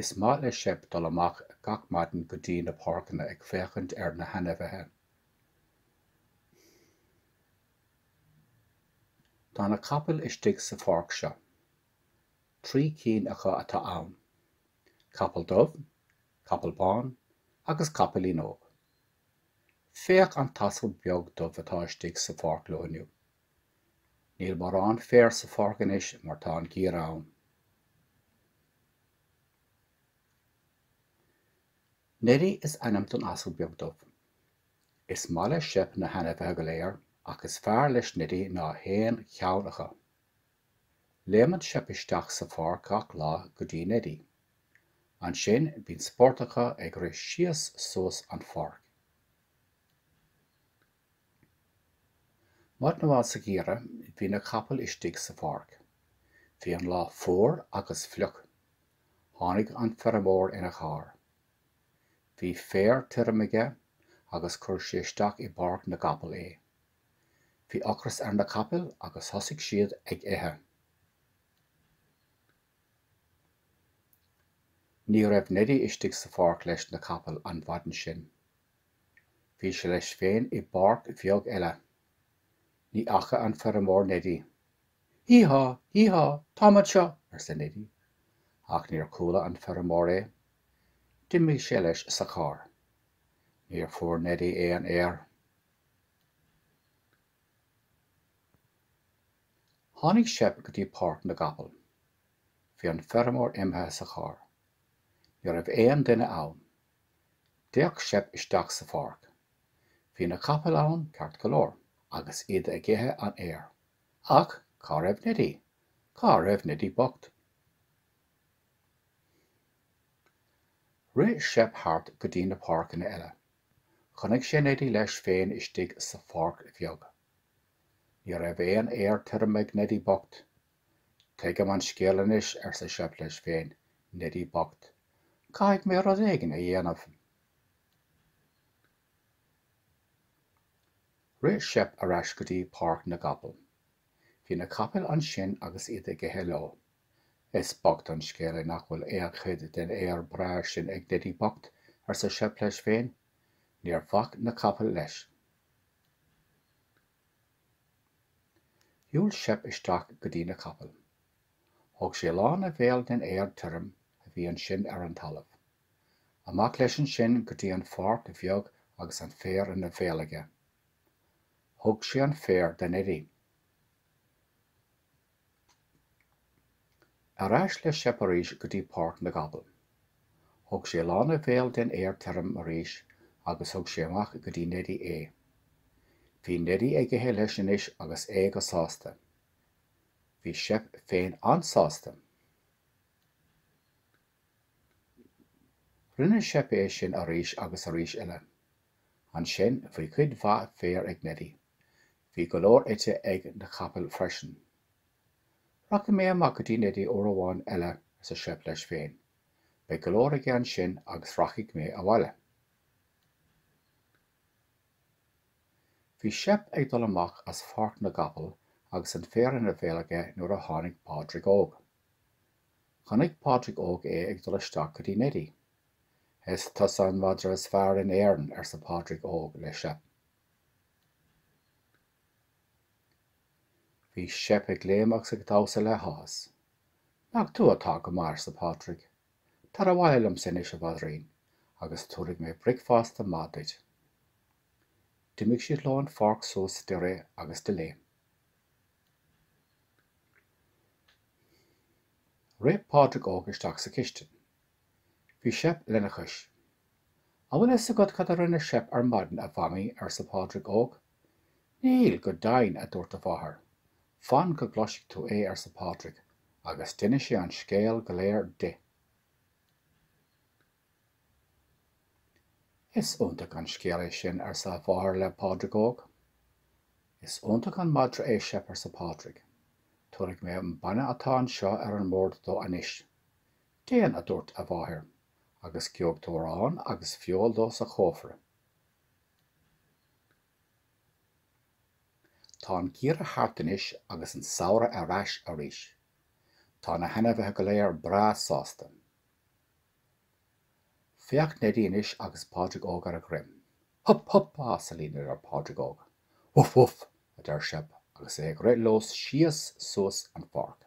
Is maith le Seip dul amach gach maidin go dtí na páirceanna ag féachaint ar na hainmhithe. Tá na capaill istigh sa pháirc seo. Trí cinn acu atá ann, capall dubh, capall bán agus capaillín óg. Féach an t-asal beag dubh atá istigh sa pháirc leo inniu. Níl morán féar sa pháirc anois mar tá an geimhreadh ann. Neidí is ainm don asal beag dubh. Is maith le Seip na hainmhithe go léir ach is fearr leis Neidí ná haon cheann acu. Léimeann Seip isteach sa pháirc gach lá go dtí Neidí. Ansin bíonn spórt acu ag rith síos suas an pháirc. Maidin amháin sa gheimhreadh bhí na capaill istigh sa pháirc. Bhí an lá fuar agus fliuch. Tháinig an feirmeoir ina charr. Bhí féar tirim aige agus chuir sé isteach i bpáirc na gcapall é. Bhí ocras ar na capaill agus thosaigh siad ag ithe. Ní raibh Neidí istigh sa pháirc leis na capaill an mhaidin sin. Bhí sé leis féin i bpáirc bheag eile. Ní fhaca an feirmeoir Neidí. Hí há! Hí há! Táim anseo! arsa Neidí. Ach níor chuala an feirmeoir é. D'imigh sé leis sa charr. Níor fuair Neidí aon fhéar. Tháinig Seip go dtí páirc na gcapall. Bhí an feirmeoir imithe sa charr. Ní raibh aon duine ann. D'fhéach Seip isteach sa pháirc. Bhí na capaill ann ceart go leor, agus iad ag ithe an fhéir. Ach cá raibh Neidí? Cá raibh Neidí bocht? Rith Seip thart go dtí na páirceanna eile. Chonaic sé Neidí leis féin istigh sa pháirc bheag. Ní raibh aon fhéar tirim ag Neidí bocht. Tuigim an scéal anois, arsa Seip leis féin, Neidí bocht. Caithfidh mé rud éigin a dhéanamh. Rith Seip ar ais go dtí páirc na gcapall. Bhí na capaill ansin agus iad ag ithe leo. Is bocht an scéal é nach bhfuil aon chuid den fhéar breá sin ag Neidí bocht, arsa Seip leis féin. Níor bhac na capaill leis. Shiúil Seip isteach go dtí na capaill. Thóg sé lán a bhéil den fhéar tirim a bhí ansin ar an talamh. Amach leis ansin go dtí an pháirc bheag agus an féar ina bhéal aige. Thug sé an féar do Neidí. Ar ais le Seip arís go dtí páirc na gcapall. Thug sé lán a bhéil den fhéar tirim arís agus thug sé amach go dtí Neidí é. Bhí Neidí ag ithe leis anois agus é go sásta. Bhí Seip féin an-sásta. Rinne Seip é sin arís agus arís eile. Ansin bhí cuid mhaith féir ag Neidí. Bhí go leor ite ag na capaill freisin. Rachaidh mé amach go dtí Neidí uair amháin eile, arsa Seip leis féin. Beidh go leor aige ansin agus rachaidh mé abhaile. Bhí Seip ag dul amach as Pháirc na gCapall agus an féar ina bhéal aige nuair a tháinig Pádraig Óg. Chonaic Pádraig Óg é ag dul isteach go dtí Neidí. Is tusa an madra is fearr in Éirinn, arsa Pádraig Óg le Seip. Bhí Seip ag léimneach agus ag damhsa le háthas. Nach tú atá go maith, arsa Pádraig. Tar abhaile liomsa anois, a mhaidrín, agus tabharfaidh mé bricfeasta maith duit. D'imigh siad leo an pháirc suas de rith agus de léim. Rith Pádraig Óg isteach sa chistin. Bhí Seip lena chois. An bhfuil a fhios agat cad a rinne Seip ar maidin, a Mhamaí? arsa Pádraig Óg. Níl, go deimhin, a dúirt a mháthair. Fan go gcloisfidh tú é, arsa Pádraig, agus d'inis sé an scéal go léir di. Is iontach an scéal é sin, arsa a mháthair le Pádraig Óg. Is iontach an madra é Seip, arsa Pádraig. Tabharfaidh mé an bainne atá anseo ar an mbord dó anois. Déan, a dúirt a mháthair, agus gheobhaidh tú arán agus feoil dó sa chófra. Tá an geimhreadh thart anois agus an samhradh ar ais arís. Tá na hainmhithe go léir breá sásta. Féach Neidí anois agus Pádraig Óg ar a dhroim. Hup hup, a asailín, a deir Pádraig Óg. Bhuf bhuf, a deir Seip agus é ag rith leo síos suas an pháirc.